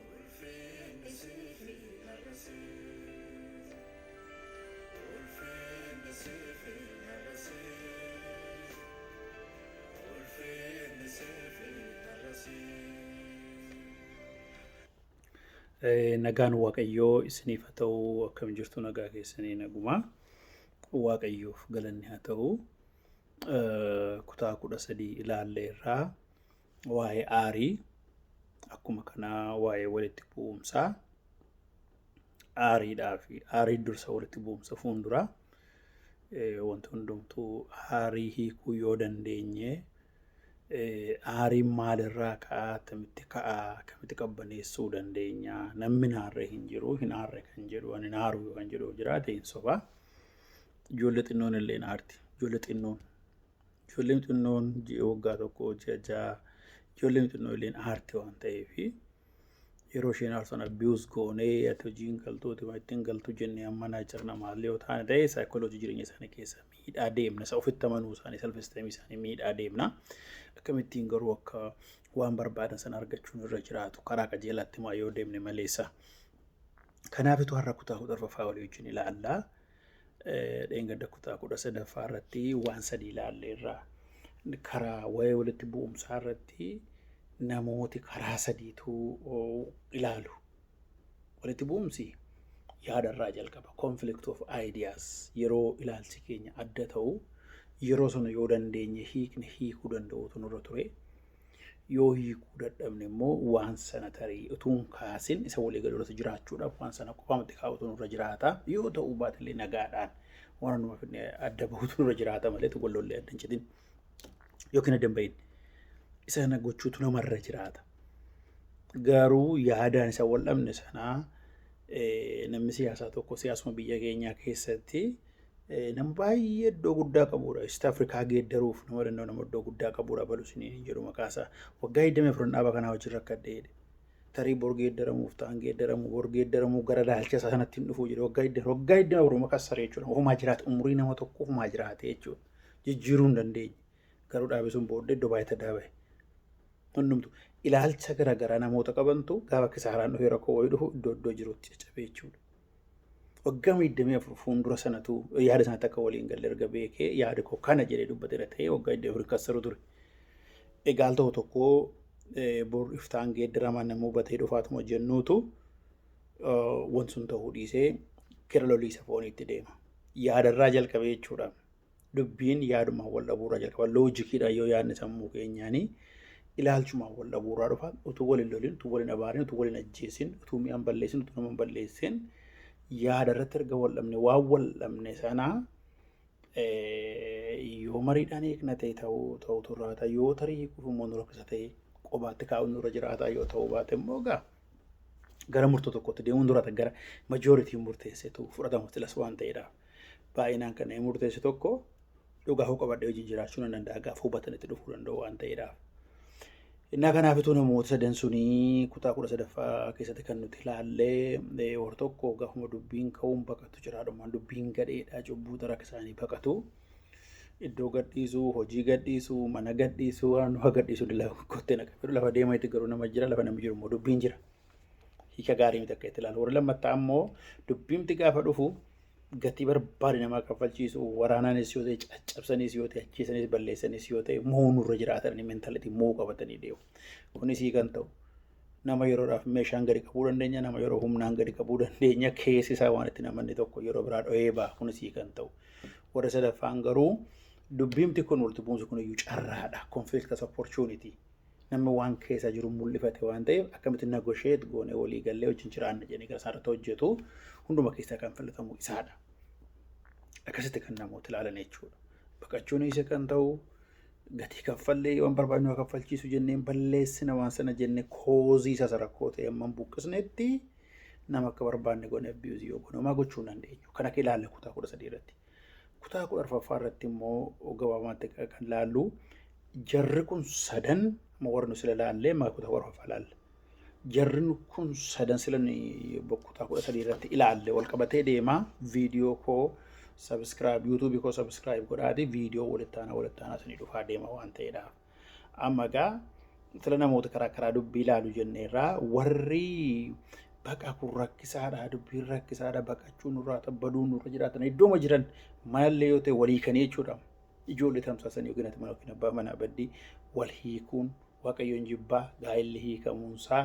Ulfinni sifi har'asi Ulfinni sifi har'asi Ulfinni sifi har'asi Nagaan Waaqayyoo isiniif haa ta'u akkam jirtu nagaa keessanii naguma Waaqayyoof galanni haa ta'u kutaa kudha sadii ilaallee irraa waa'ee aarii akkuma kanaa waa'ee walitti bu'umsaa aariidhaa fi aarii dursa walitti bu'umsa fuunduraa wanti hundumtuu aarii hiikuu yoo dandeenye aariin maalirraa ka'aa akkamitti ka'aa akkamitti qabbaneessuu dandeenya namni hin aarre hin jiru hin aarre kan jedhu ani hin aaru yoo kan jedhu jiraate hin soba ijoollee xinnoon illee hin aarti ijoollee xinnoon Ijoolleen xinnoon ji'a waggaa tokko ji'a ja'a ijoolleen xinnoo illeen aarte waan ta'eef yeroo isheen aarsan abiyuus goonee ati hojiin galtooti waan ittiin galtu jennee amma naa jirna maallee yoo taane ta'e saayikooloojii jireenya isaanii keessa miidhaa deemna isa ofitti amanuu isaanii salfisteemii isaanii miidhaa deemna akkamittiin garuu akka waan barbaadan sana argachuun irra jiraatu karaa qajeelaatti maa yoo deemne maleessa. Kanaafitu har'a kutaa kudha arfaffaa walii wajjin ilaallaa. dheengadda kutaa kudha sadaffaa irratti waan sadii ilaalle irraa karaa waa'ee walitti bu'umsaa irratti namooti karaa sadiitu ilaalu. Walitti bu'umsi yaada irraa jalqaba. Conflict of ideas yeroo ilaalchi keenya adda ta'u yeroo sana yoo dandeenye hiikne hiikuu danda'uutu nurra ture. Yoo hiikuu dadhabne immoo waan sana tarii utuu hin kaasin isa walii galuu irratti jiraachuudhaaf waan sana qofaamatti kaa'utu nurra jiraata. Yoo ta'uu baatellee nagaadhaan waan hundumaa fidnee adda bahutu nurra jiraata malee tokko lollee adda hin citin yookiin adda hin bahin. Isa kana gochuutu namarra jiraata. Garuu yaadaan isa wal dhabne sanaa eh, namni siyaasaa tokko siyaasuma biyya keenyaa keessatti Nama baay'ee iddoo guddaa qabuudha. East Afrikaa geeddaruuf nama danda'u nama iddoo guddaa qabuudha balu siniin hin jedhu maqaa isaa. Waggaa 24 dhaaba kanaa wajjin rakkadhe jedhe. Tarii bor geeddaramuuf ta'an geeddaramu bor geeddaramuu gara laalcha isaa sanatti hin dhufu jedhe. Waggaa 24 waggaa 24 maqaa saree jechuudha. Ofumaa jiraate umurii nama tokko ofumaa jiraate jechuudha. Jijjiiruu hin dandeenye. Garuu dhaabi sun booddee iddoo baay'ee tadaa bahe. Hundumtu ilaalcha garaagaraa namoota qabantu gaafa kisaaraan dhufee rakkoo wayii dhufu iddoo iddoo jirutti caccabee jechuudha. Waggaa digdamii afur fuuldura sanatu yaada sanatti akka waliin galle erga beekee yaada koo kana jedhee dubbateera ta'ee waggaa digdamii afur kassaru ture. Egaal ta'u tokko bor iftaan geeddaramaa nama hubatee dhufaatuma jennuutu wanti sun ta'uu dhiisee gara loliisa fooniitti deema. Yaadarraa jalqabee jechuudha. dubbiin yaadumaan wal dhabuurraa jalqaba loojikiidhaan yoo yaadne sammuu keenyaanii ilaalchumaan wal dhabuurraa dhufa utuu wal hin lolin utuu wal hin abaarin utuu wal hin ajjeesin utuu mi'aan balleessin utuu nama hin balleessin yaada irratti erga wal dhabne waan wal dhabne sana yoo mariidhaan eegna ta'e ta'uu ta'utu irraa ta'a yoo tarii hiikuuf immoo nu rakkisa ta'e qobaatti kaa'uun nurra jiraataa yoo ta'uu baate immoo gaa gara murtoo tokkotti deemuun dura gara majooritiin murteessetu fudhatamu tilas waan ta'eedhaaf. baay'inaan kan inni murteessu tokko dhugaa koo qabadhee wajjin jiraachuu nan danda'a gaafa hubatan itti dhufuu danda'u waan ta'eedhaaf. Innaa kanaafituu namoota sadan sunii kutaa kudha sadaffaa keessatti kan nuti ilaallee hor tokko gaafuma dubbiin ka'uun baqatu jiraadhumaan dubbiin gadheedhaa cubbuu xara akka isaanii baqatu iddoo gadhiisuu hojii gadhiisuu mana gadhiisuu waan waa gadhiisuu dila kottee naqa lafa deema itti garuu nama jira lafa namni jiru immoo dubbiin jira. hiika gaarii miti akka itti ilaalu. Warri lammataa ammoo dubbiimti gaafa dhufu gatii barbaade namaa kaffalchiisu waraanaanis yoo ta'e caccabsanis yoo ta'e ajjeesanis balleessanis yoo ta'e moo nurra jiraatan mentalitii moo qabatanii deemu. Kunis hiikan ta'u nama yeroodhaaf meeshaan gadi qabuu dandeenya nama yeroo humnaan gadi qabuu dandeenya keessi isaa waan itti namanni tokko yeroo biraa dho'ee ba'a kunis hiikan ta'u. Warri sadaffaan garuu dubbiimti kun walitti bu'umsi kun iyyuu carraadha conflict as opportunity nama waan keessa jiru mul'ifate waan ta'eef akkamitti nagosheet goone walii gallee wajjin jiraanna jedhanii gara isaarratti hojjetu hunduma keessaa kan filatamu isaadha. Akkasitti kan namoota ilaalan jechuudha. Baqachuun isa kan ta'u gatii kaffallee waan barbaadnu haa kaffalchiisu jenneen balleessina waan sana jenne koozii isa rakkoo ta'e amman buqqisnetti nama akka barbaanne goone abiyuuzii yoo goone homaa gochuu hin dandeenyu. Kan akka ilaalla kutaa kudha sadii irratti. Kutaa kudha arfaffaa irratti immoo gabaabaatti kan ilaallu jarri kun sadan amma warra nu sila ilaallee amma kutaa kudha arfaffaa ilaalla. Jarri kun sadan sila kutaa kudha sadii irratti ilaalle wal qabatee deema viidiyoo koo sabiskiraayib yuutuubii koo sabiskiraayib godhaati viidiyoo walitti aanaa walitti aanaa isinii dhufaa deema waan ta'eedhaaf. Amma egaa sila namoota karaa karaa dubbii ilaalu jenne irraa warri baqa kun rakkisaadha dubbiin rakkisaadha baqachuu nurraa tabbaduu nurra jiraatan iddooma jiran maallee yoo ta'e walii kanii jechuudha. Ijoollee tamsaasan yookiin ati mana yookiin abbaa manaa baddii wal hiikuun waaqayyoon jibbaa gaa'elli hiikamuunsaa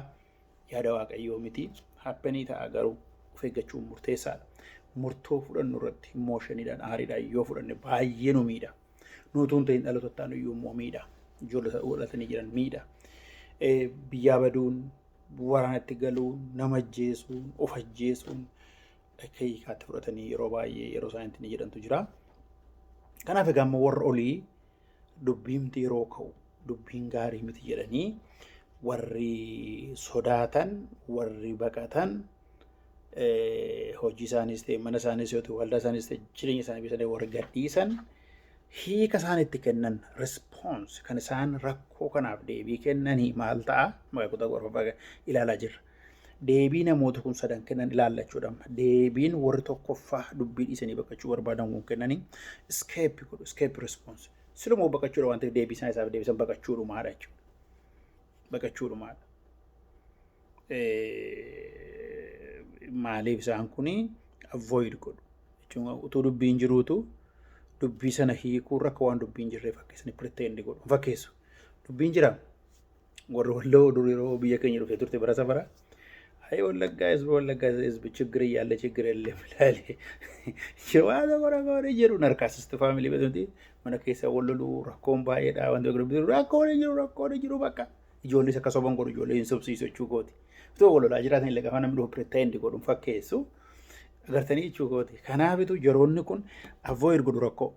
yaada waaqayyoo miti happenii ta'a garuu of eeggachuun murteessaadha. Murtoo fudhannu irratti imooshiniidhaan aariidhaan yoo fudhanne baay'ee nu miidha. Nuutuu hin ta'in dhaloota ta'an iyyuu immoo miidha. Ijoollee godhatanii jiran miidha. Biyyaa baduun, waraanatti galuun, nama ajjeesuun, of ajjeesuun akka hiikaatti fudhatanii yeroo baay'ee yeroo isaaniitti ni jedhantu jira. Kanaaf egaa immoo warra olii dubbiimti yeroo ka'u dubbiin gaarii miti jedhanii warri sodaatan warri baqatan hojii isaaniis ta'e mana isaaniis yoo ta'e waldaa isaaniis ta'e jireenya isaanii biyyatanii warri gadhiisan hiika isaan itti kennan response kan isaan rakkoo kanaaf deebii kennanii maal ta'a maqaa kutaa ilaalaa jirra. Deebii namoota kun sadan kennan ilaallachuu dhabna. Deebiin warri tokkoffaa dubbii dhiisanii baqachuu barbaadan kun kennanii escape godhu, escape response. Silumoo baqachuudha waan ta'eef deebii isaan isaaf deebisan baqachuudhumaadha jechuudha. Baqachuudhumaadha. Maaliif isaan kun avoid godhu? Jechuun utuu dubbiin jiruutu dubbii sana hiikuu irra akka waan dubbiin jirreef akka isaan pretend godhu fakkeessu. Dubbiin jira Warri walloo dur yeroo biyya keenya dhufee turte bara safara. Ayi wallaggaa isbi wallaggaa isbi chiggir yaalle chiggir illee milaale. Jawaata bara bara jedhu narkaasisti faamilii beeknuti mana keessa walloluu rakkoon baay'eedha wanti gurguddaa rakkoon hin jiru rakkoon hin jiru bakka. Ijoollees akka soban godhu ijoollee hin sobsiisu jechuu kooti. Itoo wallolaa jiraatan illee gaafa namni dhufu piretendi godhuun fakkeessu agartanii jechuu kooti. Kanaafitu yeroonni kun avoid godhu rakkoo.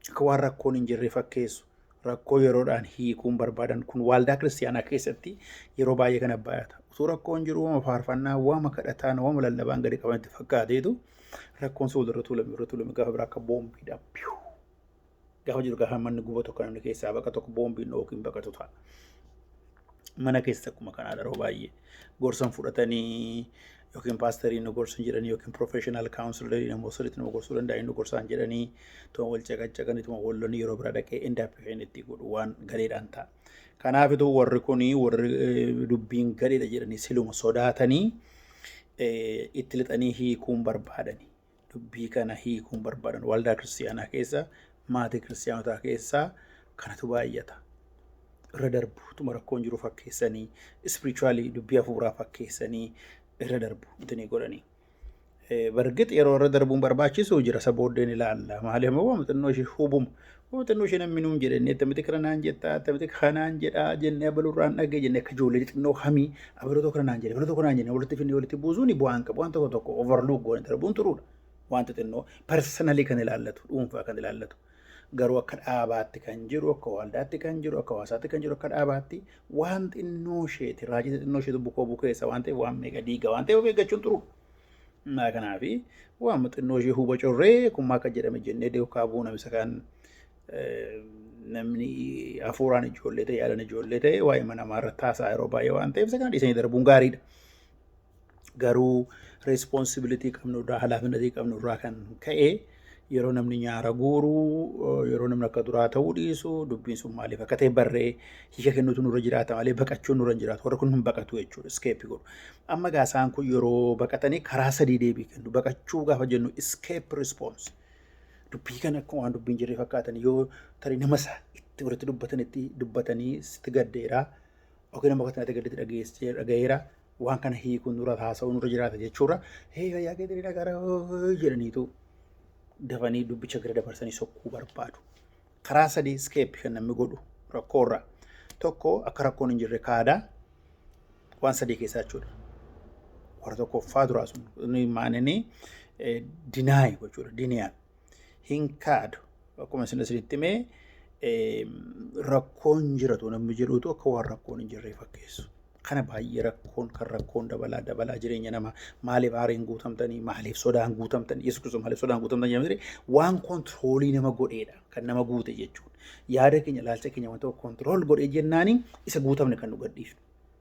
akka waan rakkoon hin jirre fakkeessu rakkoo yeroodhaan hiikuun barbaadan kun waaldaa kiristiyaanaa keessatti yeroo baay'ee kana baay'ata. Utuu rakkoon jiru wama faarfannaa, wama kadhataan, wama lallabaan gadi qabanitti fakkaateetu rakkoon sun walirra tuulame walirra tuulame gaafa biraa akka boombiidhaan piyuu gaafa jiru gaafa manni gubatu akka namni keessaa baqa tokko boombiin yookiin baqatu ta'a. Mana keessatti akkuma kanaa yeroo baay'ee gorsan fudhatanii yookiin paasterii nu gorsu hin jedhanii yookiin professional counselor namoo sirriitti nama gorsuu danda'a inni gorsaa hin jedhanii tuma wal caqacaqanii tuma wal lolanii yeroo bira dhaqee indaappi kan itti godhu waan gareedhaan ta'a. Kanaafituu warri kuni warri eh, dubbiin gareedha jedhanii siluma sodaatanii eh, itti lixanii hiikuun barbaadani. dubbii kana hiikuun barbaadan waldaa kiristiyaanaa keessa maatii kiristiyaanotaa keessaa kanatu baay'ata. Irra darbu utuma rakkoon jiru fakkeessanii ispirichuwaalii dubbii hafuuraa fakkeessanii irra darbu itini godhanii. Bargix yeroo irra darbuun barbaachisu jira isa booddeen ilaalla. Maaliif immoo xinnoo ishee hubuma Muuxannoo ishee namni nuun jedhe inni attamitti kana naan jettaa attamitti kanaan jedhaa jennee abalurraan dhagee jennee akka ijoollee xixinnoo hamii abaloo tokko naan jedhe abaloo tokko naan jenne walitti finnee walitti buusuun bu'aan qabu waan tokko tokko overlook goone darbuun turuudha. Waan xixinnoo personally kan ilaallatu dhuunfaa kan ilaallatu garuu akka dhaabaatti kan jiru akka waldaatti kan jiru akka hawaasaatti kan jiru akka dhaabaatti waan xinnoo isheeti raajii xixinnoo isheetu bukoo bukeessa waan ta'eef waan meeqa diiga waan ta'eef of eeggachuun turuudha. Naa kanaafi waan xinnoo ishee huba corree kun maal akka jedhame jennee duukaa bu'uu namisa kan namni hafuuraan ijoollee ta'e yaadan ijoollee ta'e waa'ee mana namaa irratti haasaa yeroo baay'ee waan ta'eef isa kana dhiisanii darbuun gaariidha. Garuu responsibility qabnu irraa halaafinnatii qabnu irraa kan ka'e yeroo namni nyaara guuru yeroo namni akka duraa ta'uu dhiisu dubbiin sun maaliif akka ta'e barree hiika kennuutu nurra jiraata malee baqachuun nurra hin jiraatu warri kun hin baqatu jechuudha iskeeppii godhu. Amma egaa isaan kun yeroo baqatanii karaa sadii deebii kennu baqachuu gaafa jennu iskeep rispoons dubbii kana akkuma waan dubbiin jirre fakkaatan yoo tarii nama isaa itti walitti dubbatanitti dubbatanii sitti gaddeeraa Yookiin amma akkatti natti gaddatti dhageessee dhagayeera waan kana hiikuun nurra haasa'uu nurra jiraata jechuudha. Hee fayyaa keetiin hin dhagara jedhaniitu dafanii dubbicha gara dabarsanii sokkuu barbaadu. Karaa sadii iskeeppi kan namni godhu rakkoorra. Tokko akka rakkoon hin jirre kaada waan sadii keessaa jechuudha. Warra tokkoffaa duraa sun inni maaninii dinaay gochuudha diniyaan hin kaadu Akkuma isin isinitti hime rakkoon jiratu namni jedhuutu akka waan rakkoon hin jirre fakkeessu. Kana baay'ee rakkoon kan rakkoon dabalaa dabalaa jireenya namaa maaliif aariin guutamtanii maaliif sodaan guutamtanii yesus kiristoos maaliif sodaan guutamtanii jedhamtire waan kontiroolii nama godheedha kan nama guute jechuudha. Yaada keenya ilaalcha keenya waan tokko kontirool godhee jennaani isa guutamne kan nu gadhiifnu.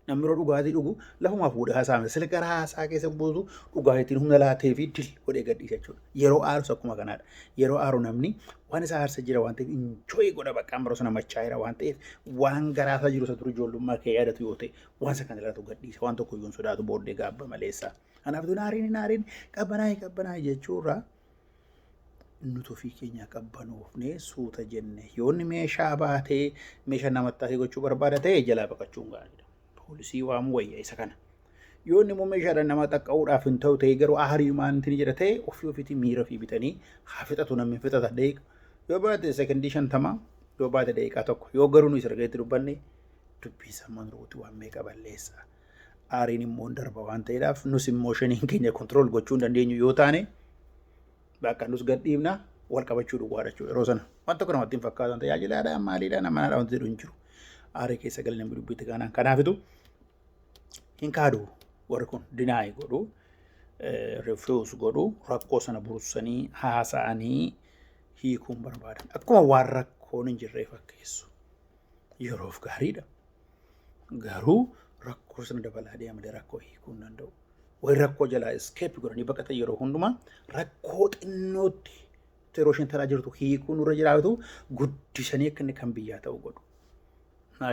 Namni yeroo dhugaatii dhugu lafumaa fuudhee haasaa miti. Sila gara haasaa keessa buusu dhugaatiin humna laatee fi dil godhee gadhiisa jechuudha. Yeroo aarus akkuma kanaadha. Yeroo aaru namni waan isa aarsa jira waan ta'eef injooyi godha bakka amma sana machaa'eera waan ta'eef waan garaa isaa jiru isa ture ijoollummaa kee yaadatu yoo ta'e waan isa kan ilaatu gadhiisa waan tokko iyyuu hin sodaatu booddee gaabba maleessa. Kanaaf tun aariin hin aariin qabbanaa'e qabbanaa'e jechuurraa nuti ofii keenyaa qabbanoofnee suuta jenne yoonni meeshaa baatee meeshaa namatti taatee gochuu barbaada ta'e jalaa baqachuun gaariidha. Poolisii waamuu wayya isa kana. Yoonni immoo meeshaadhaan nama qaqqabuudhaaf hin ta'u ta'e garuu aarii maantiin jira ta'e ofii ofiitii miira ofii bitanii haa fixatu namni fixata deeqa. Yoo baate sekondii shantamaa yoo baate deeqaa tokko yoo garuu nu isa argeetti dubbanne dubbiin sammaan ruuti waan meeqa balleessaa. aariin immoo hin darba waan ta'eedhaaf nus immoo shaniin keenya kontirool gochuu hin dandeenyu yoo taane bakka nus gad dhiibna wal qabachuu duwwaadha jechuudha yeroo sana waan tokko namatti hin fakkaatan tajaajilaadha maaliidha namanaadha wanti jedhu hin jiru aarii keessa galee namni dubbiitti kaanaan kanaafitu hin kaadu warri kun dinaayi godhu refuse godhu rakkoo sana bursanii haasa'anii hiikuun barbaadan akkuma waan rakkoon hin jirree fakkeessu yeroof gaariidha. Garuu rakkoo sana dabalaa deema malee rakkoo hiikuu hin danda'u. Warri rakkoo jalaa eskeepi godhanii baqatan yeroo hundumaa rakkoo xinnootti yeroo isheen taraa jirtu hiikuu nurra jiraatu guddisanii akka inni kan biyyaa ta'u godhu.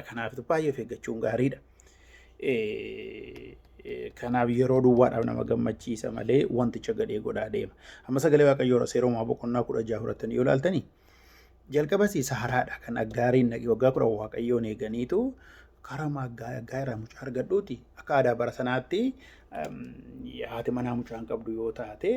Kanaaf baay'ee of eeggachuun gaariidha. Kanaaf yeroo duwwaadhaaf nama gammachiisa malee wanticha gadhee godhaa deema. Amma sagalee waaqayyoo irra seeromaa boqonnaa kudha jaha fudhattanii yoo ilaaltanii Jalqabas isa haraadha kan aggaariin dhaqe waggaa kudhan waaqayyoon eeganiitu karaa maaggaa aggaa irraa mucaa argadhuuti akka aadaa bara sanaatti haati manaa mucaan qabdu yoo taate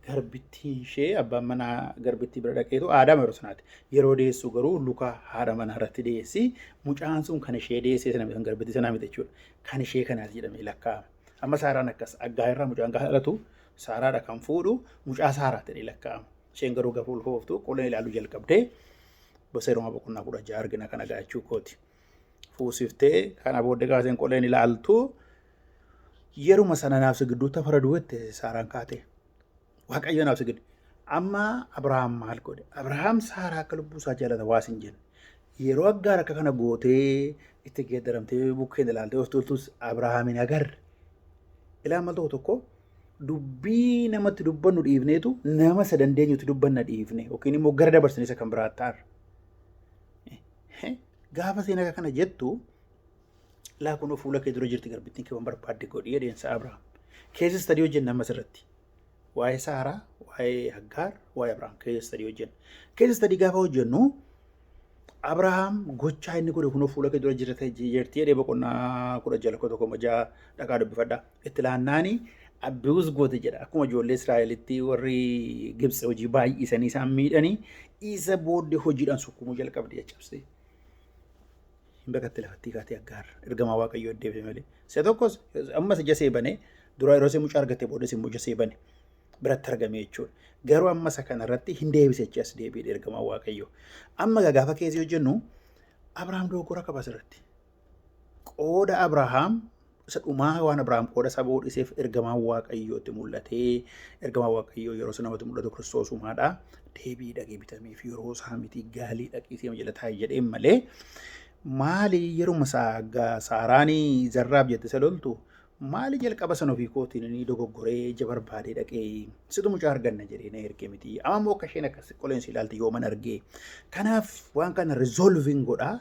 garbittii ishee abbaan manaa garbittii bira dhaqeetu aadaa yeroo sanaatti yeroo deessu garuu luka haadha manaa irratti deessi mucaan sun kan ishee deessee sana kan garbittii sanaa miti jechuudha kan ishee kanaati jedhamee lakkaa'ama amma saaraan akkas aggaa irraa mucaan kan haadhatu saaraadha kan fuudhu mucaa saaraa ta'ee lakkaa'ama. Isheen garuu gafuu ulfooftu qullina ilaaluu jalqabdee gosa Roomaa boqonnaa kudha ja'a argina kana gaachuu kooti. Fuusiftee kana booddee gaafteen qullina ilaaltu yeruma sana naaf gidduu tafara duwwette saaraan kaatee. Waaqayyo naaf sigidde. Amma Abrahaam maal godhe? Abrahaam saaraa akka lubbuu isaa jaalata waa sin jenne. Yeroo aggaar akka kana gootee itti geeddaramtee bukkeen ilaaltee of tuultus Abrahaamiin agarre. Ilaa mal tokko tokko dubbii namatti dubbannu dhiifneetu nama isa dandeenyutti dubbanna dhiifne yookiin immoo gara dabarsine isa kan biraa ta'arra. Gaafa seen akka kana jettu laa kunoo fuula kee dura jirti garbittiin kee waan barbaadde godhi jedheensa Abrahaam. Keessa istadii hojjenna ammas irratti. Waa'ee Saaraa, waa'ee Haggaar, waa'ee Abrahaam keessa istadii hojjenna. Keessa istadii gaafa hojjennu Abrahaam gochaa inni godhe kunoo fuula kee dura jirti jedhee boqonnaa kudha jala koo tokko ja'a dhaqaa dubbifadhaa. itti laannaani abiyuus goote jedha akkuma ijoollee Israa'elitti warri Gibsi hojii baay'isanii isaan miidhanii isa booddee hojiidhaan sukkumuu jalqabde caccabsee. Hin beekatti lafattii kaatee aggaar ergamaa waaqayyoo deebi'e malee. Isa tokkos ammas ija see banee dura yeroo ishee mucaa argatte booda immoo ija see bane biratti argame jechuudha. Garuu amma isa kana irratti hin deebise jechi as deebi'e ergamaa waaqayyoo. Amma gaafa keessi hojjennu Abrahaam dogoggora qaba asirratti. Qooda Abrahaam isa dhumaa waan Abrahaam qooda isaa ba'uu dhiiseef ergamaan Waaqayyoo itti mul'atee ergamaan Waaqayyoo yeroo sana namatti mul'atu Kiristoos uumaadha. Deebii dhagee bitameef yeroo isaa miti gaalii dhaqii seema jala taa'e jedheen malee maali yeruma isaa gaa saaraanii zarraaf jette isa loltu maali jalqaba san ofii kootiin ni dogoggoree ija barbaadee dhaqee situ mucaa arganna jedhee na erge miti amma immoo akka isheen akkas qoleensi ilaalte yooman argee kanaaf waan kana resolving godhaa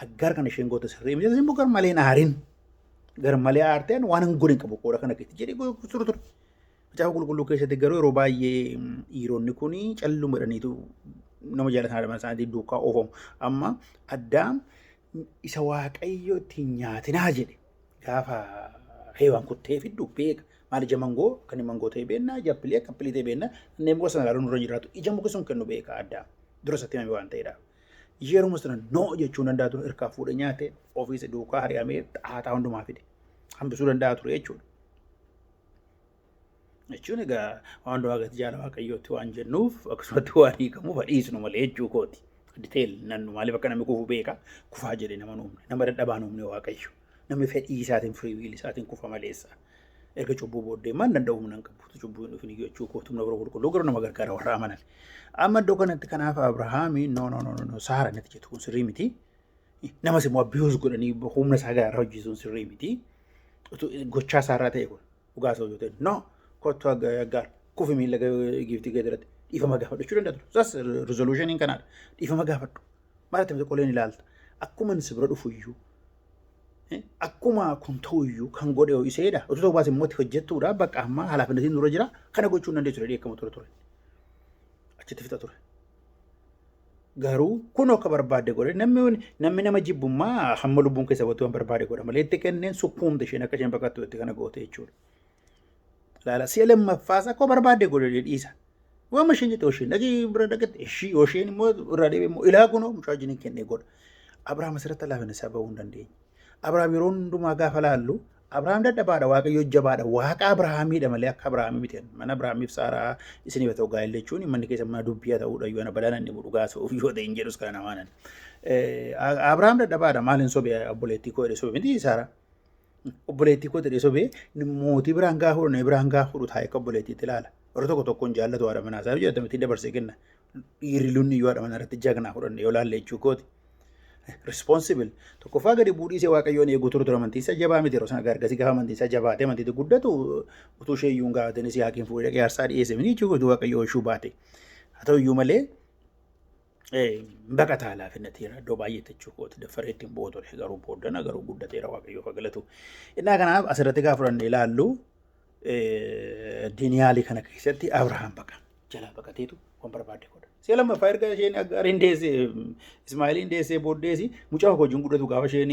Aggaar kan isheen goote sirrii miti. Isin immoo gar malee hin aarin. Gar malee aarteen waan hin godhin qabu qooda kana keetti jedhee gochuu ture ture. Macaafa qulqulluu keessatti garuu yeroo baay'ee dhiironni kun calluma jedhaniitu nama jaalatan haadha manaa isaanii duukaa oofamu. Amma addaam isa waaqayyo ittiin nyaatinaa jedhe gaafa heewaan kuttee fiddu beeka. Maal ija mangoo kan mangoo ta'e beekna, ija appilii akka appilii ta'e beekna. Kanneen muka sana ilaaluun irra jiraatu ija muka sun kennu beeka addaam. Dura isatti himame waan ta'eedha. Yeruma sana no jechuun danda'a ture irkaa fuudhe nyaate ofiis duukaa hari'amee xaataa hundumaa fide hambisuu danda'a ture jechuudha. Jechuun egaa waan hundumaa gati jaala waaqayyootti waan jennuuf akkasumatti waan hiikamuuf dhiisnu malee jechuu kooti. Diteeyil nannu maaliif akka namni kufu beeka kufaa jedhee nama nuumne nama dadhabaa nuumne waaqayyo. Namni fedhii isaatiin free will isaatiin kufa maleessa. Erga cubbuu booddee maal danda'u humna hin qabutu cubbuu hin dhufin iyyuu jechuu kootu humna biroo qulqulluu garuu nama gargaara warra amanan. Amma iddoo kanatti kanaaf Abrahaami no no no no no saara natti jettu kun sirrii miti. Namas immoo abiyuus godhanii humna isaa gaara hojjeesuun sirrii miti. Utuu Gochaa isaarraa ta'e kun dhugaa isaa yoo ta'e no kottu aggaar kufi miila giiftii gadiratti dhiifama gaafadhu jechuu danda'a ture. Sas rizooluushiniin kanaadha. Dhiifama gaafadhu. Maal itti miti qoleen ilaalta. Akkuma inni si bira dhufu iyyuu akkuma kun ta'u iyyuu kan godhe yoo iseedha. Utuu ta'uu baate immoo itti hojjettuudha. Bakka ammaa halaafinnatiin nurra jira. Kana gochuu hin dandeessu jedhee eegamu ture ture. Achitti fixa ture. Garuu kun akka barbaadde godhe namni wani- namni nama jibbummaa hamma lubbuun keessa baattu waan barbaade godha malee itti kenneen sukkuumte isheen akka isheen baqattu itti kana goote jechuudha. Laala si'a lammaffaas akka barbaadde godhe dhiisa. Waan isheen jette isheen dhaqee bira dhaqetti ishii isheen immoo irraa deebi'e immoo ilaa kunoo mucaa wajjin hin kennee godha. Abrahaam asirratti laafina isaa ba'uu hin dandeenye. Abrahaam yeroo hundumaa gaafa laallu Abrahaam dadhabaadha waaqayyo jabaadha waaqa Abrahaamiidha malee akka Abrahaamii miti mana Abrahaamiif saaraa isin yoo ta'u gaa'el jechuun manni keessa mana dubbii haa ta'uudha yoo na balaan inni godhu gaasuuf yoo ta'e hin jedhus kana namaanan. Abrahaam dadhabaadha maal hin sobe obboleettii koo jedhe sobe miti saaraa. Obboleettii koo jedhee sobee mootii biraan gaa fudhu na biraan gaa fudhu taa'ee akka obboleettiitti ilaala. Warri tokko tokkoon jaallatu haadha manaa isaa yoo jedhatan ittiin dabarsee kenna. Dhiirri lunni yoo haadha manaa irratti jagnaa fudhanne yoo laalle jechuu kooti. Responsible tokkoffaa gadi buudhiisee waaqayyoon eeguu turu ture amantii isaa jabaa miti yeroo sana gargasi gaafa amantii isaa jabaate amantii guddatu utuu ishee iyyuu hin gaafatin isii haakiin fuudhee dhaqee aarsaa dhiyeesse miti jechuu kooti waaqayyoo ishuu baate. Haa ta'u iyyuu malee baqataa laafinnateera iddoo baay'eetti jechuu kooti daffareetti hin bu'u ture garuu booddana garuu guddateera waaqayyoof haa galatu. Innaa kanaaf asirratti gaafa fudhannee ilaallu diiniyaalii kana keessatti Abrahaam baqa jalaa baqateetu waan barbaadde godha. Si'a lammaffaa erga isheen Aggaariin deessee Ismaa'eeliin deessee booddeesi mucaa koo wajjin guddatu gaafa isheen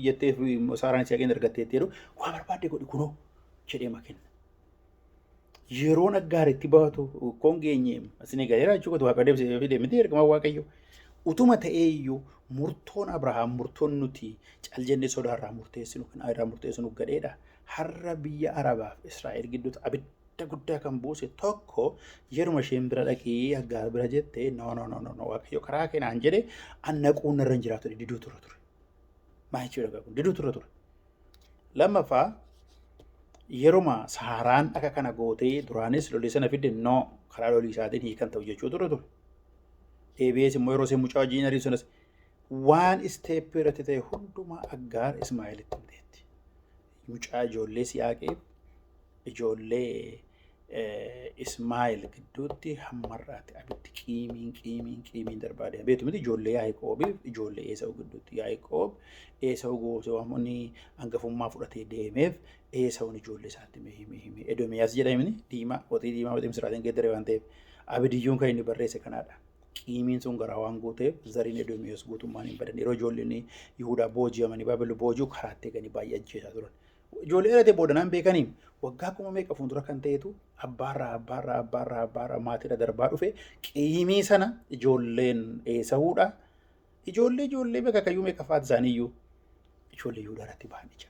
jetteef Saaraan ishee argatteetti jedhu waan barbaadde godhi kunoo jedhee makenna. Yeroo naggaara itti baatu koon geenye asin eegaleera jechuu kooti waaqa deebisee fide miti ergama waaqayyo. Utuma ta'ee iyyuu murtoon Abrahaam murtoon nuti cal jennee sodaarraa murteessinu kan irraa murteessinu gadheedha. Har'a biyya Arabaaf Israa'el gidduutti abidda guddaa kan buuse tokko yeruma isheen bira dhaqii aggaar bira jette no no no no no waaqayyo karaa keenaan jedhe annaquun irra hin jiraatu diduu tura ture. Maa jechuudha kun diduu tura ture. Lammaffaa yeruma saharaan akka kana gootee duraanis lolii sana fidde noo karaa lolii isaatiin hiikan ta'u jechuu ture ture. Deebi'ees immoo yeroo isheen mucaa wajjin ariin sunis waan isteeppii irratti ta'e hundumaa aggaar Ismaa'eelitti himteetti. Mucaa ijoollee si'aaqeef ijoollee Ismaa'il gidduutti hammarraatti abiddi qiimiin qiimiin qiimiin darbaa deema. Beektu miti ijoollee Yaaqoobiif ijoollee Eesawu gidduutti Yaaqoob Eesawu gootee waan inni hangafummaa fudhatee deemeef Eesawun ijoollee isaatti mee himee himee Edomiyaas jedha himni diimaa qotii diimaa qotii misiraatiin geeddaree waan ta'eef abidiyyuun kan inni barreesse kanaadha. Qiimiin sun garaa waan gooteef zariin Edomiyaas guutummaan hin badan yeroo ijoolleen Yihudaa booji'amanii Baabilon boojuu karaatti eeganii baay'ee ajjeesaa turan. Ijoollee dhalatee booda naan beekaniin waggaa kuma meeqa fuuldura kan ta'etu abbaarraa abbaarraa abbaarraa abbaarraa maatiidha darbaa dhufe qiimii sana ijoolleen eesahuudha. Ijoollee ijoollee beeka kayyuu meeqa faati isaaniiyyuu ijoollee Yihudaa irratti ba'an ija.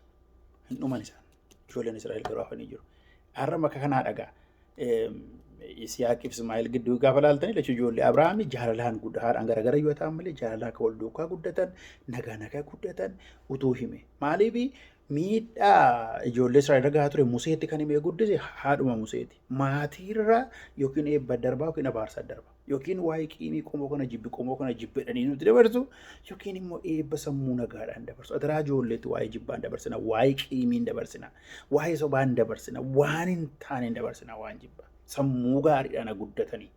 Hin dhuman isaan. Ijoolleen Israa'el garuu hafanii jiru. Har'a maka kanaa dhagaa. Isiyaaq Ismaa'eel gidduu gaafa laaltanii lachuu ijoollee Abrahaamii jaalalaan guddaadhaan garagara yoo ta'an malee jaalalaa akka wal duukaa guddatan nagaa nagaa guddatan utuu hime. Maaliif Miidhaa ijoollee Israa'el irra gahaa ture Museetti kan himee guddise haadhuma Museeti. Maatiirra yookiin eebba darbaa yookiin abaarsa darba. Yookiin waa'ee qiimii qomoo kana jibbi qomoo kana jibbedhanii nuti dabarsu yookiin immoo eebba sammuu nagaadhaan dabarsu. Adaraa ijoolleetti waa'ee jibbaan dabarsina, waa'ee qiimiin dabarsina, waa'ee sobaan dabarsina, waan hin taaneen dabarsina waan jibba. Sammuu gaariidhaan guddatanii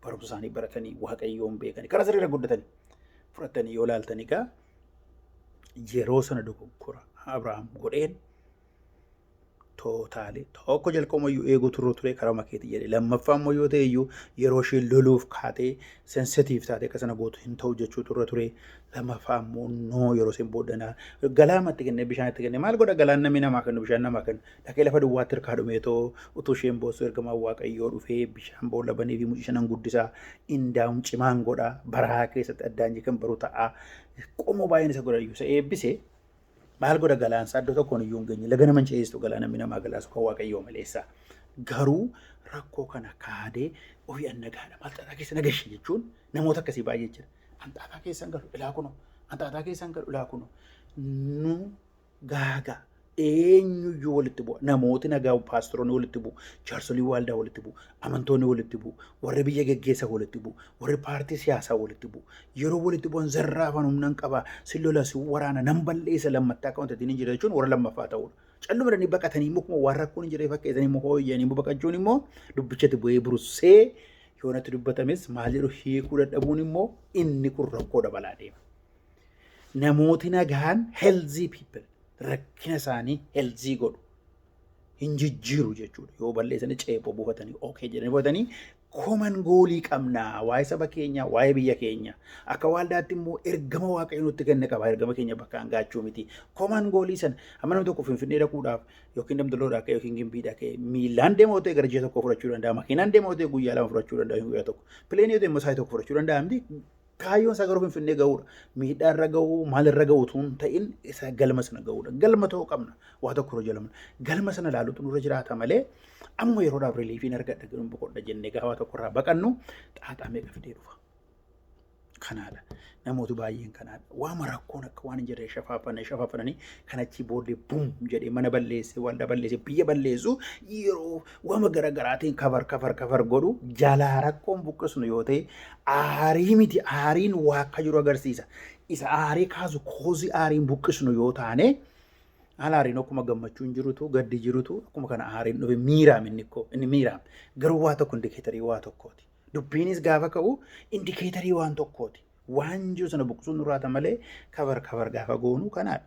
barumsa isaanii baratanii waaqayyoon beekanii karaa sirriirra guddatanii fudhatanii yoo laaltan egaa yeroo sana dogoggora Abrahaam godheen tootaalee tokko jalqabuma iyyuu eeguu turuu ture karaa makeetii jedhe lammaffaa immoo yoo ta'e iyyuu yeroo isheen loluuf kaatee sensitiif taatee akka sana gootu hin ta'u jechuu turre ture lammaffaa immoo noo yeroo isheen booddanaa galaamatti kennee bishaan itti kennee maal godha galaan namni namaa kennu bishaan namaa kennu Dhaqee lafa duwwaatti harkaa dhumeetoo utuu isheen boossu ergamaan Waaqayyoo dhufee bishaan boolla banee fi mucicha nan guddisa indaa'uun cimaan godha baraa keessatti addaan jee kan baru ta'a qomoo baay'een isa godha iyyuu isa eebbise maal godha galaan isaa iddoo tokkoon iyyuu hin geenye laga nama hin ceesistu galaa namni namaa galaasu kan Waaqayyoo maleessa garuu rakkoo kana kaadee ofii annagaadha maal xaxaa keessa nagashe jechuun namoota akkasii baay'ee jira anxaataa keessan galu ilaa kunoo anxaataa keessan galu ilaa kunoo nu gaagaa eenyuyyuu walitti bu'a. Namooti nagaa paasteroonni walitti bu'u, jaarsolii waaldaa walitti bu'u, amantoonni walitti bu'u, warri biyya geggeessa walitti bu'u, warri paartii siyaasaa walitti bu'u. Yeroo walitti bu'an zarraafan humnan qaba, sin lola, sin waraana, nan balleessa lammattaa akka wantatiin hin jira jechuun warra lammaffaa ta'uudha. Calluma jedhanii baqatanii immoo akkuma waan rakkoon hin jiree fakkeessanii immoo hooyyanii immoo baqachuun immoo dubbichatti bu'ee burussee yoonatti dubbatames maal jedhu hiikuu dadhabuun immoo inni kun rakkoo dabalaa deema. Namooti nagaan healthy people rakkina isaanii healthy godhu. Hin jijjiiru jechuudha. Yoo balleessanii ceephoo buufatanii okay jedhanii buufatanii koman goolii qabna waa'ee saba keenya waa'ee biyya keenya akka waaldaatti immoo ergama waaqayyo nutti kenne qaba ergama keenya bakkaan gaachuu miti koman goolii sana amma namni tokko finfinnee dhaquudhaaf yookiin damdaloo dhaqee yookiin gimbii dhaqee miilaan deema otee gara ji'a tokko fudhachuu danda'a makiinaan deema otee guyyaa lama fudhachuu danda'a guyyaa tokko pileenii otee immoo saayii tokko fudhachuu danda'a miti Kaayyoon isaa garuu Finfinnee ga'uudha. Miidhaa irra ga'uu, maal irra ga'uu utuu hin ta'in isa galma sana ga'uudha. Galma ta'uu qabna. Waa tokko irra jalama. Galma sana ilaaluutu nurra jiraata malee amma yeroodhaaf riiliifiin argadha jedhuun boqodha jennee gaafa tokko irraa baqannu xaaxaa meeqa fidee dhufa. Kanaadha. Namooti baay'een kanaadha. Waama rakkoon akka waan hin jirre shafaafane shafaafanii kan achii booddee buum jedhee mana balleessee waldaa balleessee biyya balleessu yeroo wama gara garaatiin kafar kafar kafar godhu jalaa rakkoon buqqisnu yoo ta'e aarii miti aariin waa akka jiru agarsiisa. Isa aarii kaasu koozii aariin buqqisnu yoo taane haala aariin akkuma gammachuu hin jirutu gaddi jirutu akkuma kana aariin dhufe miiraam inni koo inni miiraam garuu waa tokko indikeetarii waa tokkooti. Dubbiinis gaafa ka'u indikeetarii waan tokkooti. Waan jiru sana buqqisuun nurraata malee kafar kafar gaafa goonu kanaadha.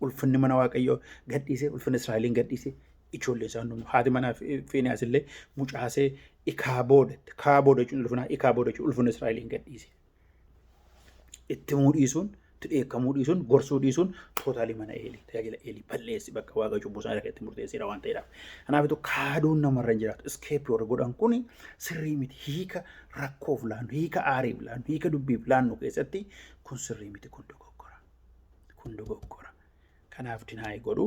Ulfinni mana Waaqayyoo gadhiisee, ulfinni Israa'eliin gadhiisee, ijoollee isaa hundinuu haati manaa fi Fiiniyaas illee mucaasee ikaa booda, kaa booda jechuun ulfinaa ikaa booda jechuun ulfinni Israa'eliin gadhiise. Itti himuu dhiisuun, itti dheekkamuu dhiisuun, gorsuu dhiisuun tootaalii mana Eelii, tajaajila Eelii balleessi bakka Waaqa cubbuu isaa irra itti murteesseera waan ta'eedhaaf. Kanaafitu kaaduun namarra hin jiraatu. Iskeepi warri godhan kun sirrii miti. Hiika rakkoof laannu, hiika aariif laannu, hiika dubbiif laannu keessatti kun sirrii miti, kun dogoggora. kun dogoggora. Kanaaf dinaayii godhu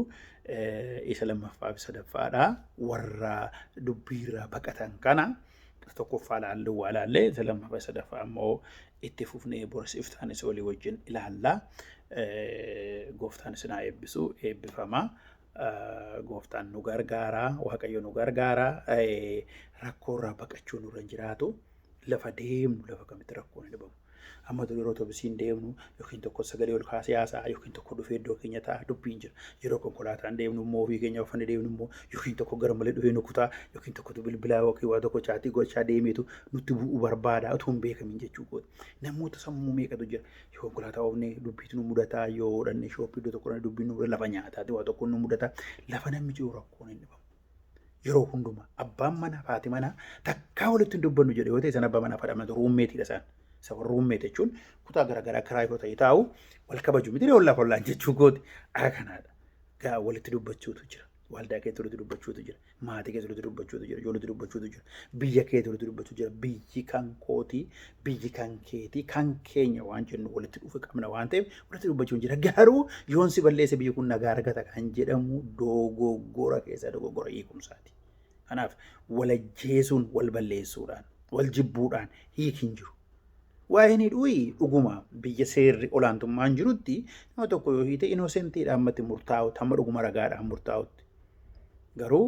isa lammaffaa fi sadaffaadha. Warra dubbiirraa baqatan kana tokkoffaa laalluu waa laallee isa lammaffaa fi sadaffaa ammoo itti fufnee boris iftaanis olii wajjin ilaalla. Gooftaan isin haa eebbisu eebbifama. Gooftaan nu gargaara waaqayyo nu gargaara rakkoorraa baqachuu nurra hin jiraatu lafa deemnu lafa kamitti rakkoon hin dhabamu. Amma dur yeroo otobisiin deemnu yookiin tokko sagalee ol kaasee haasa'a yookiin tokko dhufee iddoo keenya ta'a dubbiin jira. Yeroo konkolaataan deemnu immoo ofii keenya uffanne deemnu immoo yookiin tokko gara malee dhufee nu kutaa yookiin tokkotu bilbilaa yookiin waa tokko chaatii gochaa deemeetu nutti bu'u barbaada utuu hin beekamin jechuu kooti. Namoota sammuu meeqatu jira. Yoo konkolaataa oofne dubbiitu nu mudataa yoo hodhanne shooppii iddoo tokko dhaqne dubbiin nu mudata lafa nyaataati waa tokko nu mudata lafa namni jiru rakkoon hin dhibamu. Yeroo hundumaa abbaan manaa fi haati manaa takkaa walitti hin dubbannu jedhe yoo ta'e sana abbaa manaa fi haadha manaa ruummeetiidha isaan. Isa warra ruummeeti jechuun kutaa garaagaraa kiraa yoo ta'e taa'u wal kabaju miti ollaaf ollaan jechuu gooti akka kanaadha. Gaa walitti dubbachuutu jira. Waldaa keessa walitti dubbachuutu jira. Maatii keessa walitti dubbachuutu jira. Ijoollee walitti dubbachuutu jira. Biyya keessa walitti dubbachuutu jira. Biyyi kan kootii biyyi kan keetii kan keenya waan jennu walitti dhufe qabna waan ta'eef walitti dubbachuun jira. Garuu yoon si balleesse biyyi kun nagaa argata kan jedhamu dogoggora keessa dogoggora hiikumsaati. Kanaaf walajjeesuun wal balleessuudhaan wal jibbuudhaan hiik hin jiru. Waa'een hidhuuyi dhuguma biyya seerri olaantummaan jirutti nama tokko yoo hiite inoosentiidha ammatti murtaa'u tamma dhuguma ragaadhaan murtaa'utti. Garuu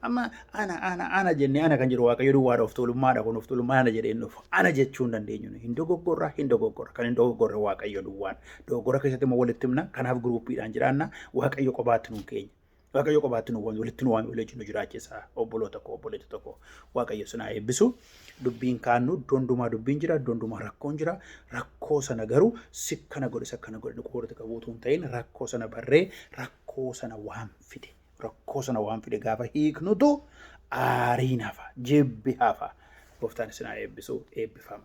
Amma ana ana ana jennee ana kan jedhu waaqayyo duwwaadha of tuulummaadha kun of tuulummaa ana jedhee hin dhufu. Ana jechuu hin dandeenyu nuyi. hin dogoggorra hin dogoggorra kan hin dogoggorre waaqayyo duwwaadha. Dogoggora keessatti immoo walitti himna kanaaf giruuppiidhaan jiraanna waaqayyo qobaatti nuun keenya. Waaqayyo qobaatti nu waame walitti nu waame walitti nu jiraachisa obboloota koo obboleetti tokko waaqayyo sinaa eebbisu dubbiin kaannu iddoo hundumaa dubbiin jira iddoo hundumaa rakkoon jira rakkoo sana garuu sikkana godhe sakkana godhe nu qoorti qabuutu hin ta'in rakkoo sana barree rakkoo sana waan fide rakkoo sana waan fide gaafa hiiknutu aariin hafa jibbi hafa gooftaan isin haa eebbisu eebbifama.